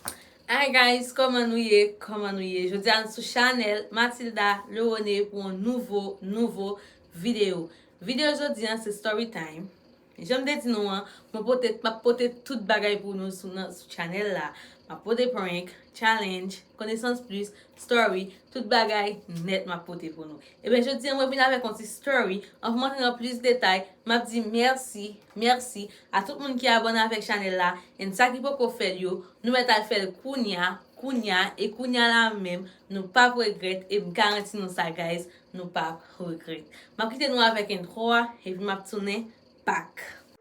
Hi guys kòman nou ye kòman nou ye jodi a nou sou chanèl Matilda Lerone pou yon nouvo nouvo video video jodi a se story time janm te di nou an mwen pote map pote tout bagay pou nou sou nan sou chanèl la map pote prank challenge konesans plis Story, tout bagay nèt map pote pou nou. Ebyen jodi an mwen vin avèk yon ti story, anvan m antre nan plis detay, map di mèsi, mèsi a tout moun ki abòne avèk chanèl la, and sa ki poko fèl yo, nou mèt al fèl kounya, kounya, e kounya la menm, nou pap regrèt, e m garanti nou sa guys, nou pap regrèt. Map kite nou avèk intro a, epi map tounen back.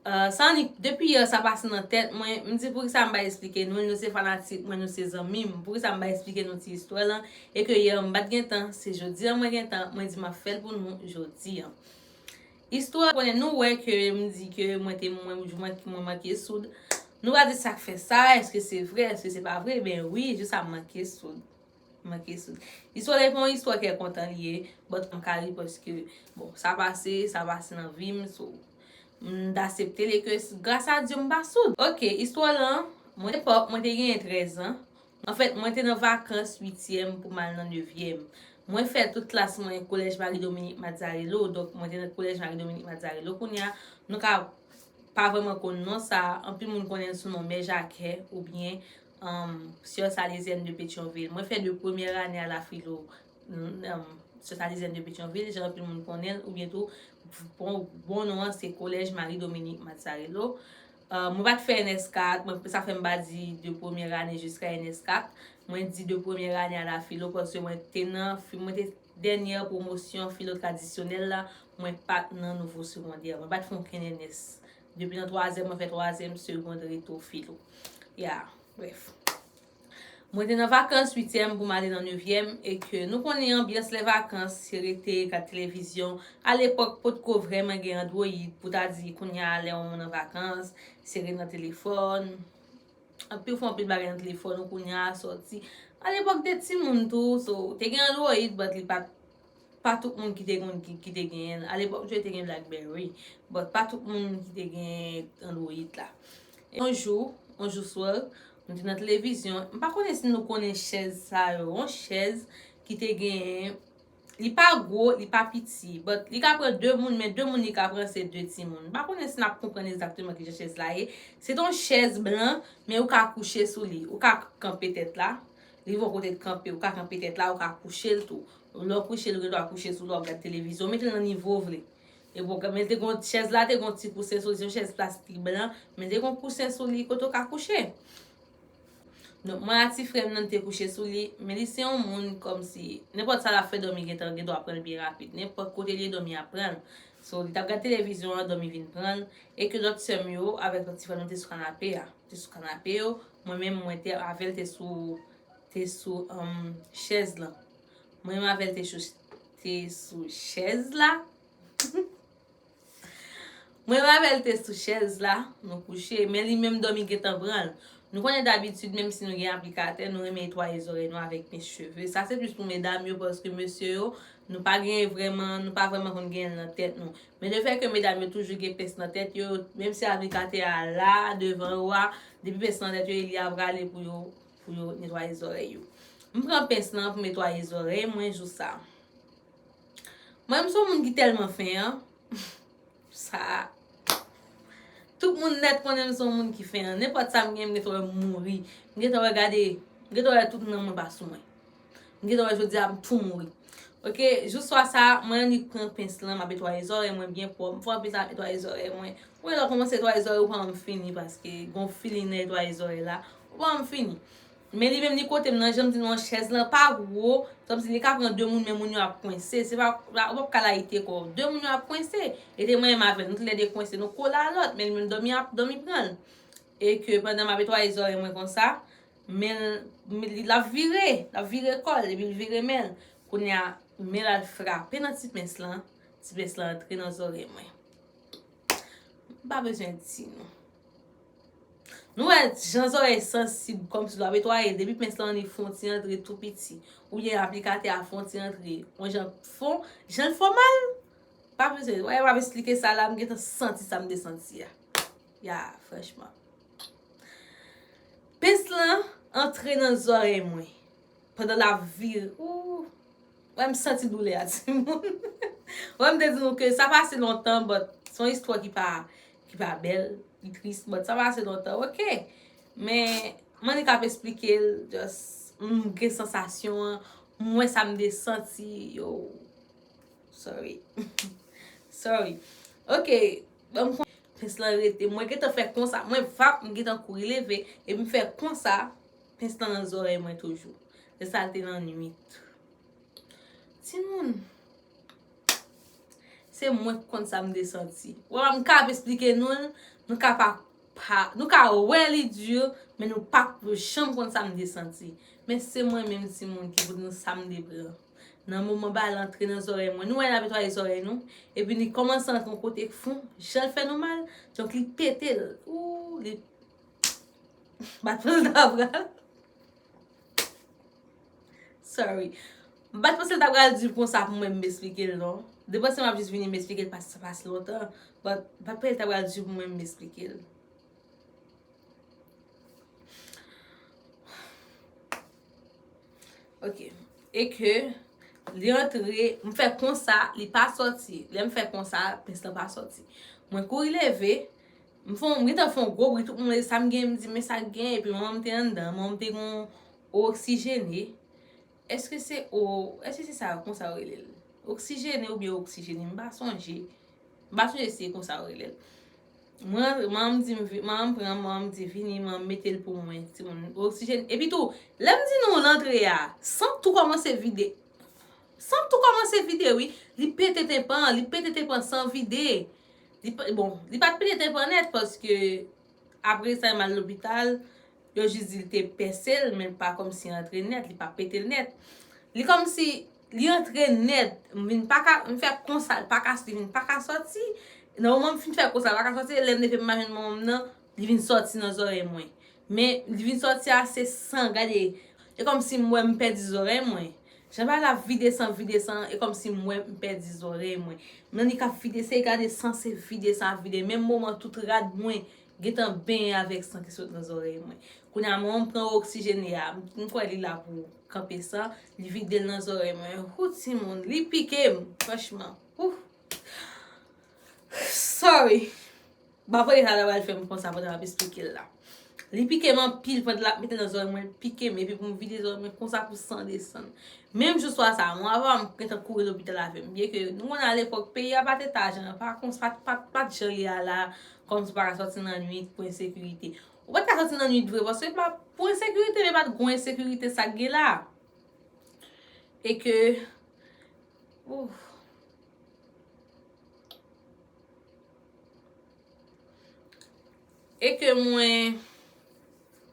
Ahh sa annik depi yè sa pase nan tèt mwen m di poukisa m pa esplike nou l nou se fanatik mwen nou se zanmi m poukisa m pa esplike nou ti istwa lan e ke yè m pat gen tan se jodi an mwen gen tan mwen di map fèl pou nou jodi an istwa konnen nou wè ke m di ke mwen te mwen m jou mwen manke soud nou va di sak fè sa eske se vre eske se pa vre ben wi jou sa m manke soud. Manke sou. Istwa dèy pa yon istwa kè kontan li ye, but m ka ri paske bon sa pase, sa pase nan vi m so m asepte li ke gras a Dye m pa soud. Ok, istwa lan, mwen epòk mwen te genyen 13 zan, anfèt mwen te nan vakans uityèm pou m al nan nevyèm. Mwen fè tout klas mwen Collège Marie Dominique Mazzarello, donk mwen te nan Collège Marie Dominique Mazzarello kounye a, nou ka pa vrèman konn non sa, anpil moun konnen l sou non Mè Jakè oubyen Humm soeur Salezienne de Petion-Ville mwen fè de première année à la philo humm soeur Salezienne de Petion-Ville jan anpil moun konnen l ou byen tou bon non an se Collège Marie Dominique Mazzarello humm mwen pat fè NS 4 mwen sa fè m pa di de première année jusqu'à NS 4 mwen di de première année à la philo paske mwen te nan mwen te dernière promotion philo traditionnelle la mwen pat nan nouveau secondaire mwen pat fè okenn NS Depi nan twazyèm mwen fè twazyèm segond reto filo. Ya, brèf. Mwen te nan vakans uityèm pou m ale nan nevyèm e ke nou konnen anbyans lè vakans se rete, gad televizyon. A lepòk potko vrèman gen androyid pou ta di kounya lè yon moun an vakans se ret nan telefòn. Anpi ou fè anpil bagay nan telefòn ou kounya sòti. A lepòk te timoun tou so te gen androyid but li pa t. pa tout moun ki te konn ki te genyen l. A lepòk yo te gen blackberry, but pa tout moun ki te gen android la. Yon jou, yon jou swè, m te nan televizyon, m pa konnen si nou konnen chèz sa yo, yon chèz ki te genyen, li pa gwo, li pa piti, but li ka pran 2 moun, men 2 moun li ka pran se 2 timoun. M pa konnen si n ap konprann egzakteman ki jan chèz la ye. Se te yon chèz blan, men ou ka kouche sou li, ou ka kanpe tèt la, Li vò kote kanpe, ou ka kanpe tèt la, ou ka kouche l tou. Lè w kouche l, ou gen dwa kouche sou li, w ap gad televizyon. Ou mete l nan nivo w vle. Epi w ka mete gon, chèz la te gon ti kousen sou li, se yon chèz plastik blan, mete gon kousen sou li kote w ka kouche. Donk mwen a ti frè m nan nou te kouche sou li, men li se yon moun kòmsi, nenpòt sa l ap fè dòmi gen tan, gen dwa pran l byen rapid. Nenpòt kote l ye dòmi ap pran l. So, li t ap gad televizyon an, dòmi vin pran l. E ke lòt sè m yo avèk lòt ti frè m yo te sou kanape a. Te sou kanape yo, mwen menm mwen te avè l te sou te sou chèz lan. Mwen menm avè l te sou te sou chèz la. Mwen menm avè l te sou chèz la, nou kouche, men li menm dòmi gentan pran l. Nou konnen dabitid menm si nou gen aplikatè, nou renmen etwaye zòrèy nou avèk mèch cheve. Sa se plis pou medam yo paske mesye yo, nou pa gen vreman, nou pa vreman konn gen l nan tèt nou. Men le fè ke medam yo toujou gen pens nan tèt yo, menm si aplikatè a la devan yo a, depi pens nan tèt yo e li a prale pou yo pou yo netwaye zòrèy yo. M pran pens lan pou m etwaye zòrèy mwen jou sa. Mwen m son moun ki tèlman fen an, sa tout moun nèt konnen m son moun ki fen an. Nenpòt sa m gen m gentan wè m mouri. M gentan wè gade, m gentan wè tout nanm mwen pa sou mwen. M gentan wè jodi a m tou mouri. Ok, jou swa sa, mwen annik pran pens lan, m ap etwaye zòrèy mwen byen pwòp. M fè anpil tan ap etwaye zòrèy mwen. Ou wè lè w kòmanse etwaye zòrèy ou pa manm fini paske gon feeling nan etwaye zòrèy la. Ou pa manm fini. Men li menm li kote m nan, jan m di nou chèz lan pa gwo, sa vle di li ka pran 2 moun men moun yo ap kwense. Se pa, ou pap ka layite kò w. 2 moun yo ap kwense. E te mwen menm avè l, nou toulède kwense, nou kole a lòt. Men li menm dòmi ap, dòmi pran l. E ke pandan m ap etwaye zòrèy mwen konsa, Men l ap vire, l ap vire kò l, epi l vire men l. Kounye a, men l al frape nan ti pens lan, ti pens lan antre nan zòrèy mwen. M pa bezwen di nou. Nou wè jan zòrèy sansib kòmsi l ap etwaye, depi pens lan li fon ti antre tou piti, oubyen aplikatè a fon ti antre, yon jan fon, jan l fon mal? M pa bezwen, wè m ap esplike sa la, m gentan santi sa m te santi a. Ya franchman. Pens lan antre nan zòrèy mwen. Pandan lap vire. Ooh. Wè m santi doulè a ti moun. Wè m te di nou ke sa pase lontan but se yon istwa ki pa ki pa bèl, li tris but sa pase lontan ok. Men m annik ap esplike l just m gen sansasyon an, m wè sa m te santi yo. Sorry. Sorry. Ok. Banm konsa pens lan rete mwen gentan fè konsa mwen vap m gentan kouri leve epi m fè konsa pens lan nan zòrèy mwen toujou se sa l te nan nwit timoun se mwen k konn sa m te santi ou wè m kab esplike nou l nou ka pa nou ka wè li dur men nou pap janm konn sa m te santi men se mwen menm timoun ki pou di nou sa m te pran. Nan moman bal antre nan zòrèy mwen, nou wè li ap netwaye zòrèy nou, epi li kòmanse antre yon kote k fon, jan l fè nou mal, donk li pete l. Ooh li bat panse l ta pral Sorry. M pa t panse l ta pral di konsa pou mwen m esplike l non. De panse m ap jis vini m esplike l paske sa pa si lontan, but m pa t panse l ta pral di pou mwen m esplike l. Ok, e ke li antre, m fè konsa, li pa soti. Lè m fè konsa, pens lan pa soti. Mwen kouri leve, m fon, m gentan fon gwo bri, tout moun wè sa m gen, m di men sa k gen, epi manman m te anndan, manman m te gon o oksijene. Eske se o, eske se sa yo konsa yo rele l? Oksijene oubyen oksijene, m pa sonje. M pa sonje si se konsa yo rele l. M rantre, manman m di m vin, manman m pran m, manman m di vini, manman m mete l pou mwen, timoun, oksijeni. Epi tou, lè m di nou l antre a, sant tou kòmanse vide. Sant tou kòmanse vide wi. Li pete tenpan, li pete tenpan san vide. Li pa, bon, li pa t pete tenpan nèt paske apre sa yo m al lopital, yo jis di l te pèse l men pa kòmsi antre nèt, li pa pete l nèt. Li kòmsi Li antre nèt, m vin pa ka, m fè konsa l pa ka swiv, li pa ka sòti. Nan moman m fin fè konsa l pa ka sòti, lè m leve m pa jwenn manman m nan, li vin sòti nan zòrèy mwen. Men, li vin sòti ase san, gade, e kòm si m wè m pèdi zòrèy mwen. Jan bagay la ap vide san, vide san, e kòm si m wè m pèdi zòrèy mwen. M nan li k ap vide, se gade san se vide san ap vide. Menm moman tout rad mwen Gentan benyen avèk san ki sot nan zòrèy mwen. Kounye a mwen pran oksijene a. M kwè li la pou kanpe san. Li vide l nan zòrèy mwen. Hoo timoun. Li pike m. Franchman. Ooh. Sorry. M pa konn e sa sa pral fè m konsa pandan m ap esplike l la. Li pike m anpil pandan l ap mete l nan zòrèy mwen. Li pike m epi pou m vide zòrèy mwen konsa pou san desann. Menm jou swa sa a, mama pa m gentan kouri lopital avè m. Byenke nou konn al epòk peyi a pa te ta jan an. Pa konsa. Pa t jan l ye a la a. Kòmsi w pa ka sòti nan nwit pou ensekirite? Ou pa t ka sòti nan nwit vre paske pou ensekirite men pa t gwo ensekirite sa k gen la. E ke ooh. E ke mwen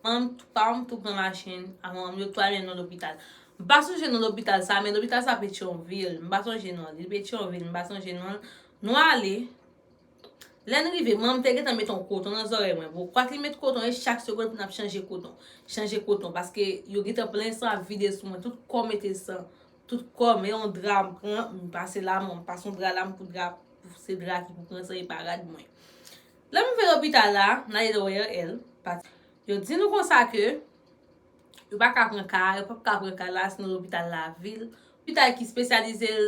manman m pa m tou pran machin ak manman m yo tou ale nan lopital. M pa sonje non lopital sa men lopital sa Petyonvil. M pa sonje non li. Petyonvil m pa sonje non l. Nou ale. Lè n rive, manman m te gentan met on koton nan zòrèy mwen. Bon, kwak li met koton, e chak segonn pou n ap chanje koton. Chanje koton, paske yo gentan plen san ap vide sou mwen. Tout kò m mete san. Tout kò m, e on dra m pran, m pase la man, m pase on dra la m pou dra, pou se dra ki pou pran san e pa rad mwen. Lè m rive lopital la, m ale nan ORL, paske yo di nou konsa ke yo pa ka pran ka a, yo pap ka pran ka la, se nan lopital lavil, lopital ki spesyalize l.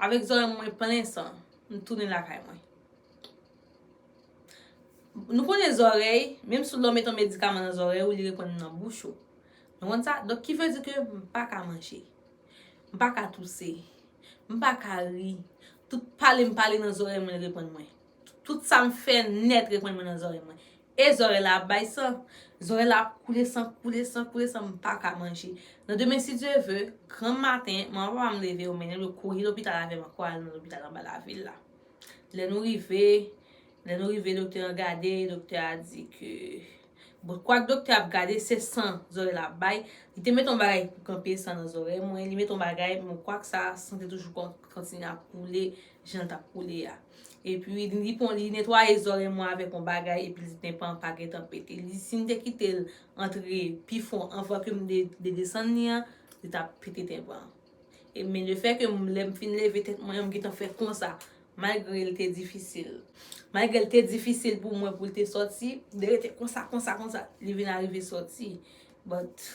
Avèk zòrèy mwen plen san, m tounen lakay mwen. Nou konnen zòrèy, menm si w mete yon medikaman nan zòrèy ou, li reponn nan bouch ou. Nou konn sa? Donk ki vle di ke m pa ka manje. M pa ka touse. M pa ka ri. Tout pale m pale nan zòrèy mwen reponn mwen. Tout sa m fè nèt reprann mwen nan zòrèy mwen. E zòrèy la ap bay san. Zòrèy la ap koule san, koule san, koule san, m pa ka manje. Nan demen si Dye ve, granm maten, manman papa m leve yo mennen l yo kouri lopital avè m ankò al nan lopital anba lavil la. Lè nou rive, lè nou rive doktè an gade, doktè a di ke bon kwak doktè ap gade se san zòrèy la ap bay, li te mete yon bagay pou kanpe san nan zòrèy mwen, li mete yon bagay men kwak sa san te toujou kontinye ap koule jan l t ap koule a. Epi, li pon, li netwaye zòrèy mwen avèk yon bagay, epi li tenpan an pa gen tan pete. Li, si m te kite l antre pi fon anvan ke m te desann li an, li t ap pete tenpan an. E, men le fè ke m, lè m fin leve tèt mwen an, m gen tan fè konsa, malgre l te difisil. Malgre l te difisil pou mwen pou l te sòti, m te rete konsa, konsa, konsa, li vin arive sòti. But.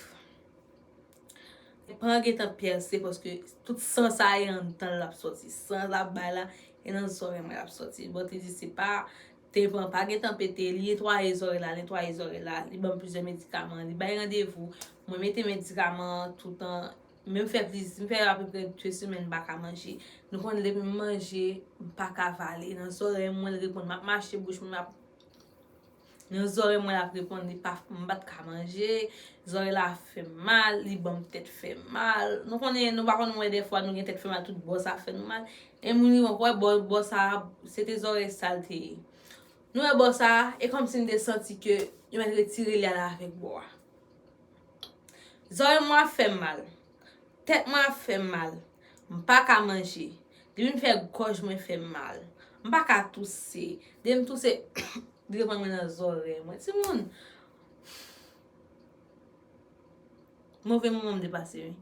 Li pa gentan pèse paske tout san sa e anndan l lap soti. San lap bay la e nan zòrèy mwen lap soti. Bon te di se pa tenpan pa gentan pete, li netwaye zòrèy la, netwaye zòrèy la, li banm plizyè medikaman, li bay randevou, mwen mete medikaman an toutan, menm fè pliz, m fè apeprè 2 semèn m pa ka manje. Nou konnen depi m manje m pa ka vale, nan zòrèy mwen l reponn, map mache bouch mwen ap. Nan zòrèy mwen lap reponn li pa m pat ka manje, zòrèy la fè m mal, li banm tèt fè mal. Nou konnen nou pa konn wè dèfwa nou gen tèt fè mal tout bò sa fè nou mal. E moun li wè bò bò sa se te zòrèy sa l te ye. Nou wè bò sa e kòm si m te santi ke yo mèt retire li ale avèk bò a. Zòrèy mwen ap fè m mal. Tèt mwen ap fè m mal. M pa ka manje. Depi m fè gòj mwen fè m mal. M pa ka touse. Depi m touse li reprann mwen nan zòrèy mwen. Timoun! Move moman m depase wi.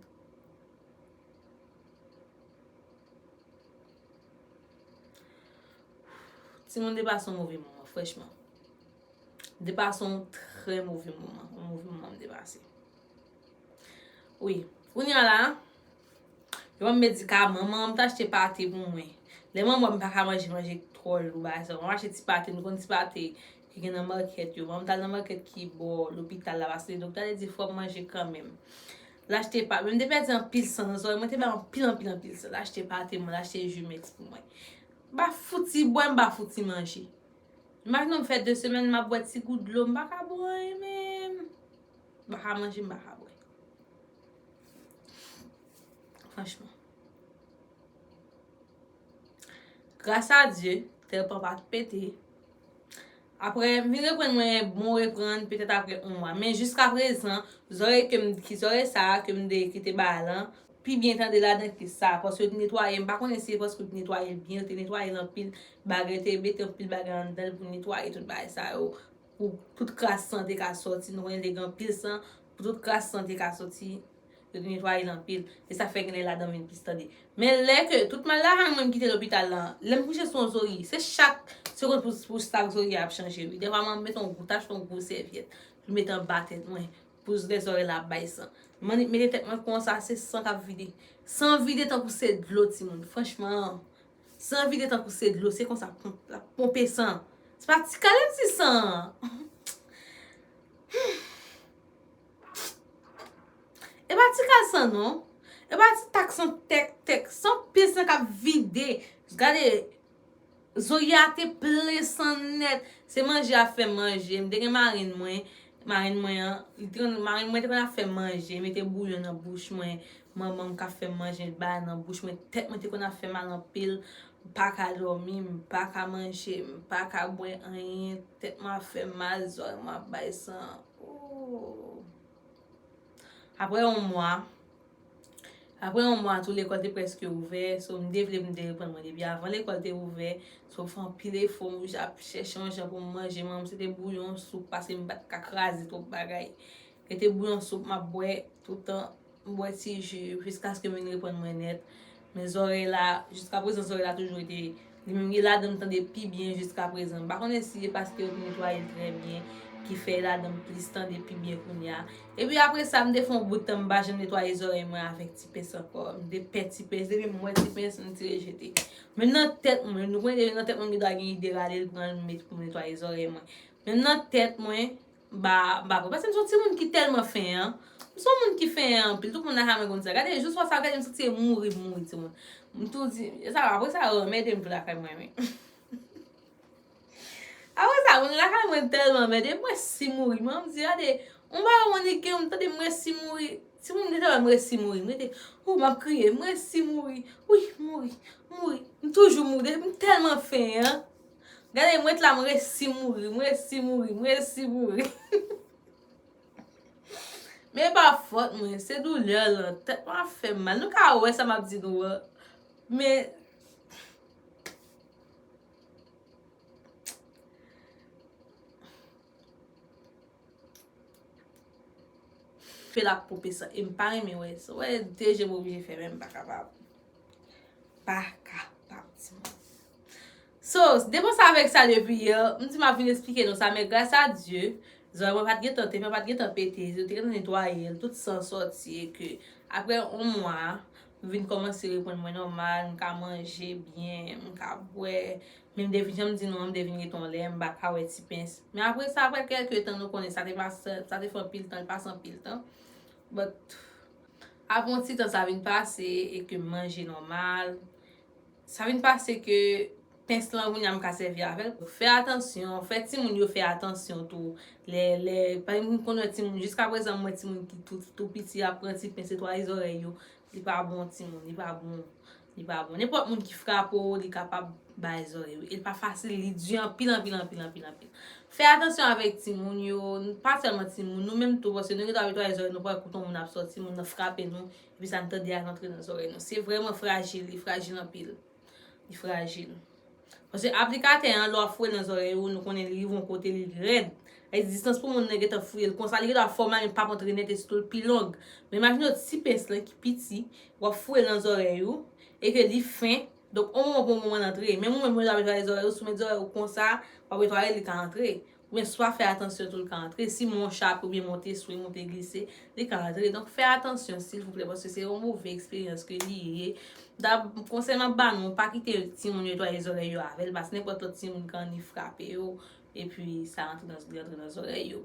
Timoun depase yon move moman frèchman. Depase yon trè move moman. Yon move moman m depase. Wi, kounya la, yo ban m medikaman, manman m t achte pate pou mwen. Lè mwen wè m pa ka manje manje ki twò lou, bagay sa, mwen achte ti pate, nou konn ti pate ki gen nan makèt yo. Manman m t al nan makèt ki bò lopital la paske doktè a te di fò m manje kanmenm. L achte pate, men m te pèdi anpil san nan zòrèy mwen, te bay anpil anpil anpil san. L achte pate mwen, l achte jumeks pou mwen. M pa fouti bwè, m pa fouti manje. Imajine w m fè de semèn m ap bwè ti gout dlo, m pa ka bwè anyen menm. M pa ka manje, m pa ka bwè. Franchman. Gras a Dye, tèl pa pa pete. Aprè, m vin reprann mwen, bon reprann, petèt aprè on mwa. Men jiska prezan, zòrèy ke m, ki zòrèy sa a ke m de, ki te ba lan, pi byen tande ladan ke sa. Paske yo te netwaye, m pa konnen si se paske yo te netwaye l byen, yo te netwaye l anpil bagay, yo te mete anpil bagay anndan l pou netwaye tout bagay sa yo. Pou tout kras san te ka sòti nou konnen li te gen anpil san pou tout kras san te ka sòti yo te netwaye l anpil e sa fè gen lè ladan vin plis tande men lè ke tout mal la mwen m kite lopital la lè m kouche sou yon zorye se chak segonn pou sak zorye a ap chanje wi dèfwa mwen mete yon gwo tach yon gwo sèvyèt pou m mete anba tèt mwen pou lè zorye la ap bay san m annik mete tèt mwen konsa se san k ap vide san vide tankou se dlo timoun franchman San vide tankou se dlo se konsa lap ponpe san se pa ti kale ti san humm epa ti kal san non epa ti tak san tèk tèk san pi san kap vide gade zoyate plen san nèt se manje ap fè manje mte gen marenn mwen marenn mwen an marenn mwen te konn ap fè manje mete bouyon nan bouch mwen Manman m ka fè m manje l bay nan bouch mwen tèt mwen te konn ap fè mal anpil m paka dòmi m paka manje m paka bwè anyen tèt mwen ap fè m mal zòrèy mwen ap bay san ooh aprè yon mwa aprè yon mwa tou lekòl te prèske ouvè so m te vle pou m te reprann mwen depi avan lekòl te ouvè so m fè anpil efò m ap chèche yon jan pou m manje manman m se te bouyon soup paske m pa t ka kraze twòp bagay se te bouyon soup m ap bwè toutan. M bwè ti ju jiskaske m vin reprann mwen nèt. Men zòrèy la, jiska prezan zòrèy la toujou rete li menm. Li ladan m tande pi byen jiska prezan. M pa konnen si se paske yo te netwaye l trè byen ki fè ladan m plis tande pi byen kounye a. Epi apre sa, m te fè yon bout tan m pa janm netwaye zòrèy mwen avèk ti pens ankò. M te pè ti pens. Depi m wè ti pens, m tire jete. Menm nan tèt mwen, nou konnen depi nan tèt mwen m gendwa gen ide rale l pran l met pou m netwaye zòrèy mwen. Menm nan tèt mwen, M pa pran paske m son ti moun ki tèlman fen an M son moun ki fen an anpil tout moun nan ha mwen konn sa gade jou swa sa gade m santi se mouri m mouri ti moun M tou di sa va apresa yo anmède m tou lakay mwen men Apresa moun lakay mwen tèlman anmède m m resi mouri m di gade on bagay m annik gen m tande m resi mouri ti moun deja wè m resi mouri m rete hoo m ap kriye m resi mouri wi mouri mouri m toujou mouri m tèlman fen an. Gade mwen t la m resi mouri m resi mouri m resi mouri Men epa fòt mwen se doulè lan tèt mwen ap fèm mal nou ka wè sa map di nou an men Fe lap poupe san em pa renmen wè sa. Wè de je m oblije fèmen m pa kapab. Pa kapab ti moun. So, depi w sa vek sa depi yè, m di map vin esplike nou sa men gras a Dye, zòrèy mwen pat gentan te fè pat gentan pete, yo te gentan netwaye l, tout san sòti e ke aprè on mwa, Vin kòmanse reponn mwen nòmal, m ka manje byen, m ka bwè. Men m te vin, jan m di nou an, m te vin rete yon lè, m pa ka wè ti pens. Men apre sa, apre kèlke tan, nou konnen sa te pa, sa te fè anpil tan, l pase anpil tan. But, apre yon ti tan sa vin pase e ke m manje nòmal, Sa vin pase ke pens lan kounya m ka sèvi avè l. Fè atansyon, fè timoun yo fè atansyon tou. Lè, lè, pa ekzanp m konn wè timoun, jiska prezan m wè timoun ki tou, tou piti ap pran ti pens netwaye zòrèy yo. Li pa bon timoun, li pa bon. Li pa bon. Nenpòt moun ki frape w, li kapab bay zòrèy ou. E li pa fasil, li di anpil, anpil, anpil, anpil, anpil. Fè atansyon avèk timoun yo, pa sèlman timoun, nou menm tou, paske nou gen dwa netwaye zòrèy nou pa wè kouton moun ap sòti, moun nan frape nou, Epi sa n tande a rantre nan zòrèy nou. Se vrèman frajil, li frajil anpil. Li frajil. Paske aplikatè an, lè w ap fouye l nan zòrèy ou, nou konnen li rive yon kote, li rèd. Sa vle di distans pou moun nan gen tan fouye l konsa, li gen dwa fò malin pa kontre nèt esito l pi long. Men imajine w ti pens lan ki piti, w ap fouye l nan zòrèy ou, e ke li fen, donk yon moman pou yon moman l antre. Menm ou menm lè w ap netwaye zòrèy ou, si w met zòrèy ou konsa, w ap netwaye l, li ka antre. Men swa fè atansyon tou l ka antre, si mon chak oubyen mon te swe, mon te glise, li ka antre. Donk fè atansyon silvouplè paske se yon move eksperyans ke li ye. Konsèy m ap ba nou, pa kite timoun yo netwaye zòrèy yo avè l paske nenpòt lòt timoun ka annik frape yo epi sa rantre nan li rantre nan zòrèy yo.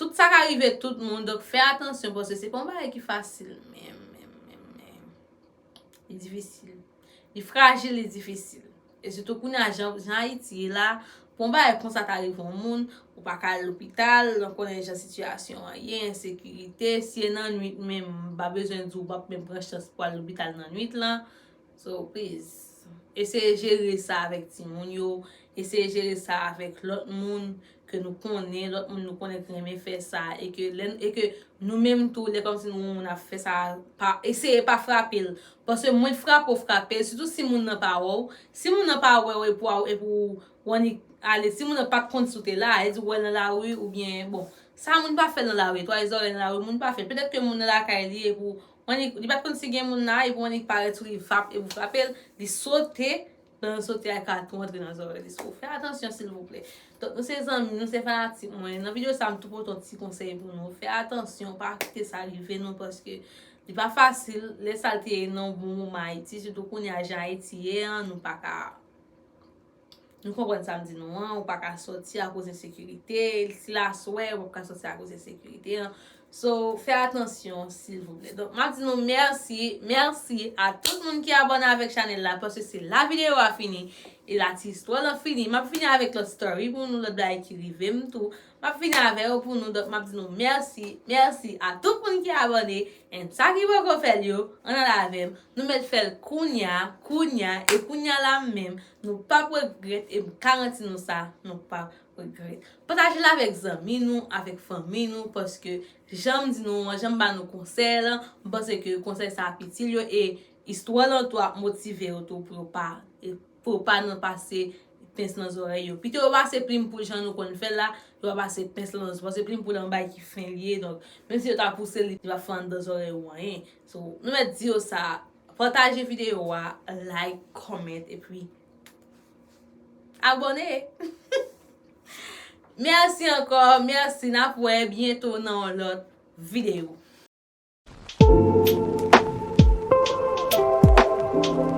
Tout sa ka rive tout moun donk fè atansyon paske se pa yon bagay ki fasil menm menm menm menm. Li difisil. Li frajil, li difisil. E sitou kounye a jan Ayiti ye la, pou yon bagay konsa ta rive yon moun, ou pa ka al lopital, nou konnen jan sitiyasyon an ye, ensekirite, si e nan nwit menm, m pa bezwen di w, w pap menm pran chans pou al lopital nan nwit lan. So, pliz, eseye jere sa avèk timoun yo, eseye jere sa avèk lòt moun, ke nou konnen, lòt moun nou konnen ki renmen fè sa, e ke lè, e ke nou menm tou, lè kòmsi nou wè yon moun ap fè sa, pa, eseye pa frape l, paske mwen t frape w, frape l, sitou si moun nan pa wè w, si moun nan pa wè w epi w, epi w annik ale, si moun nan pat konn si w te la, e di w wè l nan lari, oubyen, bon, sa moun pa fè nan lari, twale zòrèy nan lari moun pa fè, petèt ke moun nan lakay li epi w annik, li pat konn si gen moun la, epi w annik parèt sou li vap, epi w frape l, li sote, Lè nou soti a ka tou antre nan zòrèy li so fè atansyon silvouplè. Donk nou se zanmi nou se fanatik mwen nan video sa m tou pote yon ti konsèy pou nou fè atansyon pa kite sa rive nou paske li pa fasil lè sa l te ye nan yon bon moman Ayiti sitou kounye a jan Ayiti ye an nou pa ka nou konprann sa m di nou an ou pa ka soti akoz ensekirite si l aswè ou pa ka soti akoz ensekirite an So fè atansyon silvouplè. Donk map di nou mèsi, mèsi a tout moun ki abòne avèk chanèl la paske se la videyo a fini e la ti istwa lan fini. Map vini avèk lòt story pou nou, lòt bagay ki rive m tou. Map vini avè yo pou nou donk map di nou mèsi, mèsi a tout moun ki abòne and sa ki poko fèl yo ann al avèm nou mèt fèl kounya, kounya e kounya la menm nou pap regrèt e m karanti nou sa nou pap Pataje l avèk zanmi nou, avèk fanmi nou paske jan m di nou an, jan m ba nou konsèy lan, m panse ke konsèy sa ap itil yo e istwa lan tou ap motive yo tou pou yo pa pou yo pa nan pase pens nan zòrèy yo. Pito yo pase plim pou jan nou konn fè l la, yo pa pase pens lan nan zòrèy paske plim pou l an bay ki fen li ye donk menm si yo ta pouse l li pa fè anndan zòrèy ou anyen. So, nou mèt di yo sa, pataje videyo a, like, comment epi. Abone! Merci ankò, merci nap wè byento nan yon lòt video.